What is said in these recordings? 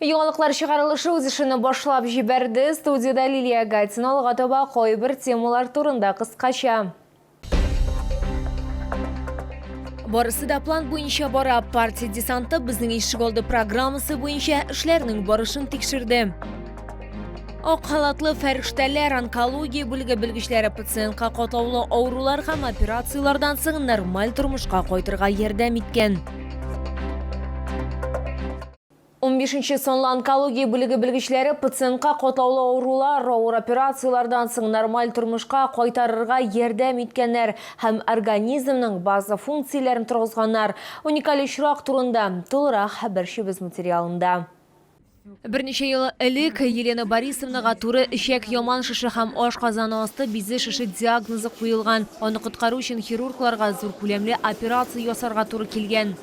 Яңалыклар чыгарылышы үз эшене башлап җибәрде. Студиядә Лилия Гатина алга таба кайбер темалар турында кыскача. Барысы да план буенча бара. Партия десанты безнең ишегалды программасы буенча эшләрнең барышын тикшерде. Ак халатлы фәрештәләр онкология бүлеге белгечләре пациентка катлаулы авырулар һәм операцияләрдән соң нормаль тормышка кайтырга ярдәм иткән. Унбишенче санлы онкология бүлеге белгечләре пациентка катлаулы авырулар, авыр операцияләрдән соң нормаль тормышка кайтарырга ярдәм иткәннәр һәм организмның база функцияләрен торгызганнар. Уникаль очрак турында тулырак хәбәрчебез материалында. Берничә ел элек Елена Борисовнага туры эчәк яман шеше һәм ашказаны асты бизе шеше диагнозы куелган. Аны коткару өчен хирургларга зур күләмле операция ясарга туры килгән.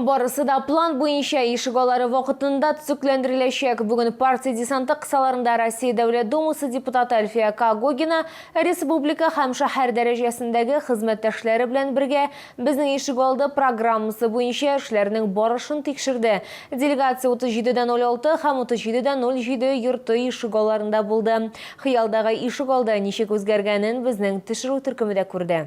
Барысы да план буенча, ишек алары вакытында төзекләндереләчәк. Бүген партия десанты кысаларында Россия Дәүләт Думасы депутаты Әлфия Когогина республика һәм шәһәр дәрәҗәсендәге хезмәттәшләре белән бергә Безнең ишегалды программасы буенча эшләрнең барышын тикшерде. Делегация 37 дә 06 һәм 37 дә 07 йорты ишек аларында булды. Хыялдагы ишек алды ничек үзгәргәнен безнең төшерү төркеме дә күрде.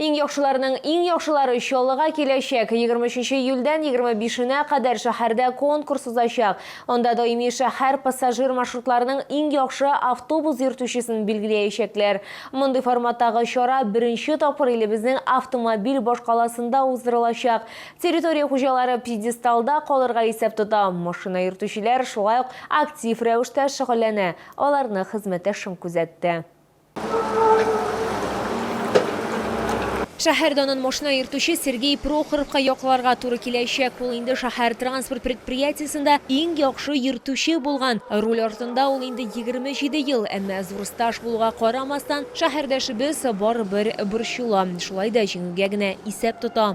Иң яхшыларның иң яхшылары Чаллыга киләчәк. Егерме өченче июльдән егерме бишенә кадәр шәһәрдә конкурс узачак. Анда даими шәһәр пассажир маршрутларының иң яхшы автобус йөртүчесен билгеләячәкләр. Мондый форматтагы чара беренче тапкыр илебезнең автомобиль башкаласында уздырылачак. Территория хуҗалары пьедесталда калырга исәп тота. Машина йөртүчеләр шулай ук актив рәвештә шөгыльләнә, аларны хезмәттәшем күзәтте. Шәһәр данын машина йөртүче Сергей Прохоровка якларга туры киләчәк. Ул инде шәһәр транспорт предприятиесендә иң яхшы йөртүче булган. Руль артында ул инде 27 ел, әмма зур стаж булуга карамастан, шәһәрдәшебез барыбер борчыла. Шулай да җиңүгә генә исәп тота.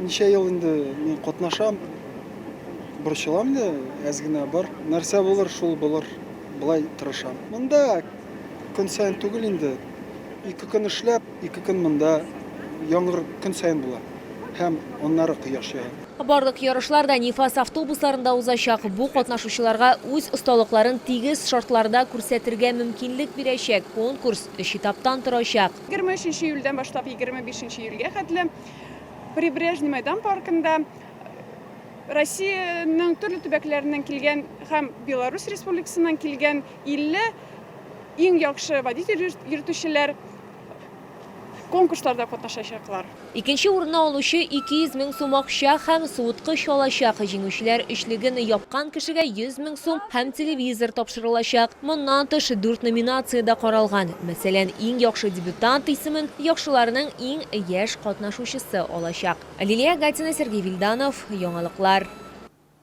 Ничә ел инде мин катнашам. Борчылам инде әз генә бар. Нәрсә булыр, шул булыр. Болай тырышам. Монда көн саен түгел инде. Ике көн эшләп, ике көн монда яңгыр көн саен була. Һәм аннары кояш ява. Барлык ярышлар да Нефас автобусларында узачак. Бу катнашучыларга үз осталыкларын тигез шартларда күрсәтергә мөмкинлек бирәчәк. Конкурс өч этаптан торачак. Егерме өченче июльдән башлап егерме бишенче июльгә хәтле Прибрежный мәйдан паркында Россиянең төрле төбәкләреннән килгән һәм Беларусь Республикасыннан килгән 50 иң яхшы водитель йөртүчеләр конкурсларда катнашачаклар. Икенче урынны алучы 200 мең сум акча һәм суыткыч алачак, җиңүчеләр өчлеген япкан кешегә 100 мең сум һәм телевизор тапшырылачак. Моннан тыш, дүрт номинация дә каралган. Мәсәлән, иң яхшы дебютант исемен яхшыларның иң яшь катнашучысы алачак. Лилия Гатина, Сергей Вильданов, Яңалыклар.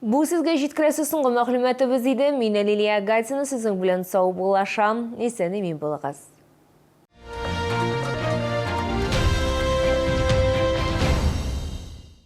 Бу сезгә җиткерәсе соңгы мәгълүматыбыз иде. Мин Лилия Гатина сезнең белән саубуллашам. Исән-имин булыгыз.